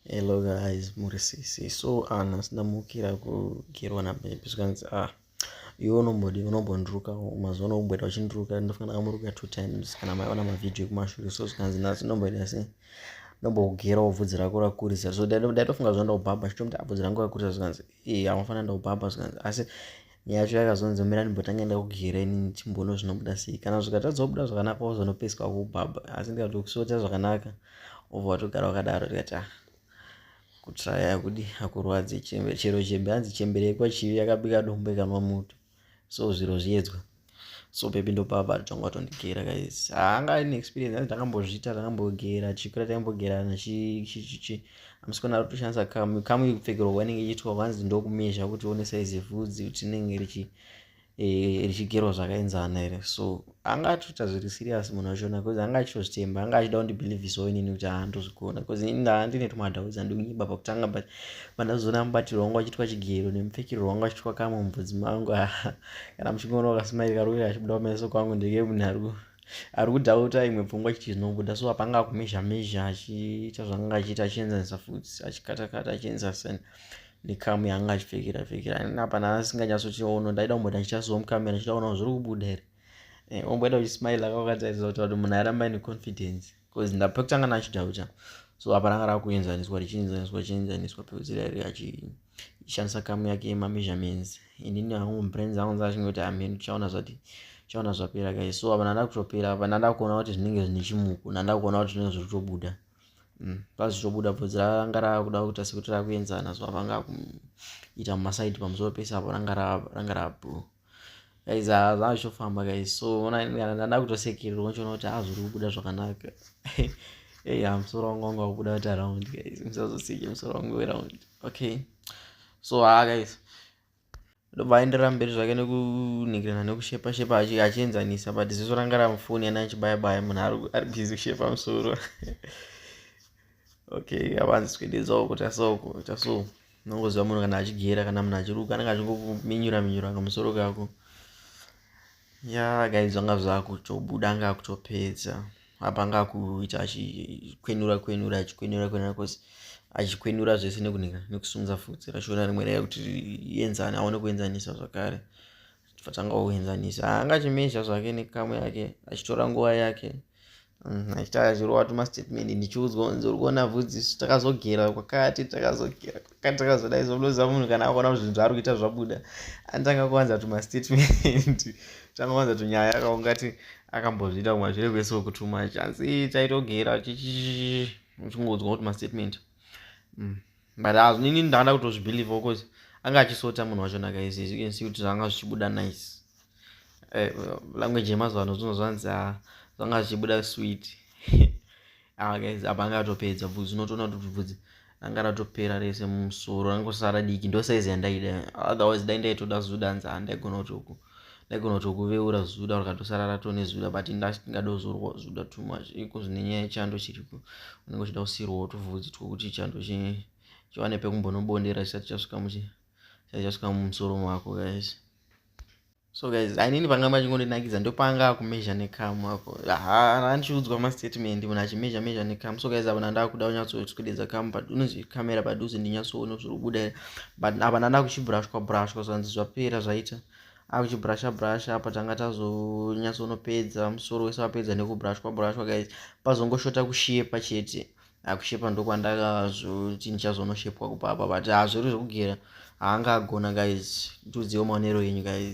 Hello guys, muri sisi. So ana sindamukira kugerwa na baby zvikanzi ah iwe unombodi unombondiruka mazuva ano umboita uchindiruka ndofanira amuruka two times kana maiona mavhidhiyo ekumashure so zvikanzi nhasi ndomboita se ndombokugera ubvudzi rako rakurisa so ndaitofunga zvandaubhabha chitomuti abvudzi rangu rakurisa zvikanzi i amufanira ndaubhabha zvikanzi asi yacho yakazonzi mira ndimbotanga enda kugera ini chimbono zvinobuda sei kana zvikatadza kubuda zvakanaka wozonopeswa kubhabha asi ndikati ukusota zvakanaka obva watogara wakadaro tikati ah kutraya kudi hakurwadzi chero chembe hanzi chembere yekwachivi yakabika dombo ikanwa moto so zviro zviedzwa so baby ndopava tanga watondigera guys haanga ah, ine experience hanzi ndakambozviita ndakambogera chikura taimbogerana chichichi amusikana ari kutoshandisa kamu kamu yekupfekerwa kwainenge ichiitwa kwanzi ndokumezha kuti one saizi yevhudzi kuti inenge richi eh, richigerwa zvakaenzana here so anga atoita zviri serious munhu wachona bcause anga achitozvitemba anga achida kundibhilivhisawo inini kuti handozvigona bcause ini ndaa ndine tumadhau dzandikunyeba pakutanga but pandazoona mubatirwo wangu achiitwa chigero nemupfekero wangu achiitwa kamwe mubvudzi mangu kana muchingoona wakasmairi kari kuita kachibuda kumeso kwangu ndeke munhu ari ari kudhauta imwe pfungwa chiti zvinobuda so apanga akumezha mezha achiita zvaanga achiita achienzanisa futi achikatakata achienzisa sen nekamu yaanga achipfekera pfekera apana asinganyatsotiono ndaida kumboda ndichita so mukamera ndichida kuona zviri kubuda here eh, omboita uchismaila kakakataidza kuti kuti munhu arambai neconfidence because ndapekutanga nachidhauta so apa ranga rakuenzaniswa richienzaniswa richienzaniswa peudzirari achishandisa kamu yake yemameasurements inini hangu brains angu nzachingoti amheni tichaona zvati tichaona zvapera kai so apa nanda kutopera apa nanda kuona kuti zvinenge zvine chimuko nanda kuona kuti zvinenge zviri kutobuda mm, pazvichobuda bvudzi ranga rakuda kuita sekuti rakuenzana so apa anga kuita mumasaidi pamusoro pese apo ranga rablue guys zvazvofamba guys so ndada kutosekererwa ndichiona kuti haa zviri kubuda zvakanaka ei ha musoro wangu wanga wakubuda kuti around guys musazoseke musoro wangu weround okay so haa guys ndobva aenderera mberi zvake nekunhingirana nekushepa shepa achienzanisa but ziso ranga ramufoni yana achibayabaya munhu ari busy kushepa musoro okay avanzi swededza uko tasa uko taso unongoziva munhu kana achigera kana munhu achiruka anenge achingominyura minyura kamusoro kako ya guys vanga zvakutobuda anga akutopedza apa anga akuita achikwenura kwenura achikwenura kwenura cause achikwenura zvese nekunhika nekusunza futsi rashona rimwe raya kuti rienzane aone kuenzanisa zvakare fatanga kuenzanisa anga achimezha zvake nekamu yake achitora nguva yake mm, achita achirova tumastatement ndichiudzwa kunzi uri kuona vhudzi isu takazogera kwakati takazogera kwakati takazoda isu unoziva munhu kana akuona kuti zvinhu zvaari kuita zvabuda anotanga kuwanza tumastatement tanga kuwanza tunyaya akaungati akambozviita kumwe zvire kwese wekutuma chanzi taitogera chichingodzwa kuti mastatement mm. but as nini ndakada kutozvibelieve because anga achisota munhu wacho naka izi as you can see kuti zvanga zvichibuda nice eh, language yemazuva ano zvino zvanzi ah, zvanga zvichibuda sweet ah, guys apa anga atopedza bvudzi unotoona kuti bvudzi anga ratopera rese mumusoro rangosara diki ndosaizi yandaida otherwise dai ndaitoda zudanza handaigona kuti uku ndaigona kutokuveura zuda rakatosara rato nezuda but ndingada kuzorwa zuda too much iko zvine nyaya yechando chiripo unenge uchida kusirwawo tuvhudzi twokuti chando chiwane pekumbonobondera chisati chasvika muchi chisati chasvika mumusoro mako guys so guys ainini panga machingondinakidza ndopanga akumezha nekamu ako handichiudzwa mastatement munhu achimezha mezha nekamu so guys avo nandakuda kunyatsotswededza kamu unonzi kamera padhuze ndinyatsoona zviri kubuda but apa ndanda kuchibrushwa brushwa zvanzi zvapera zvaita akuchibrasha brasha apa tanga tazonyatsonopedza musoro wese wapedza nekubrushwa brushwa guys pazongoshota kushepa chete akushepa ndokwandakazoti ndichazonoshepwa kupapa but hazviri zvekugera haanga agona guys ndiudziwo maonero enyu guys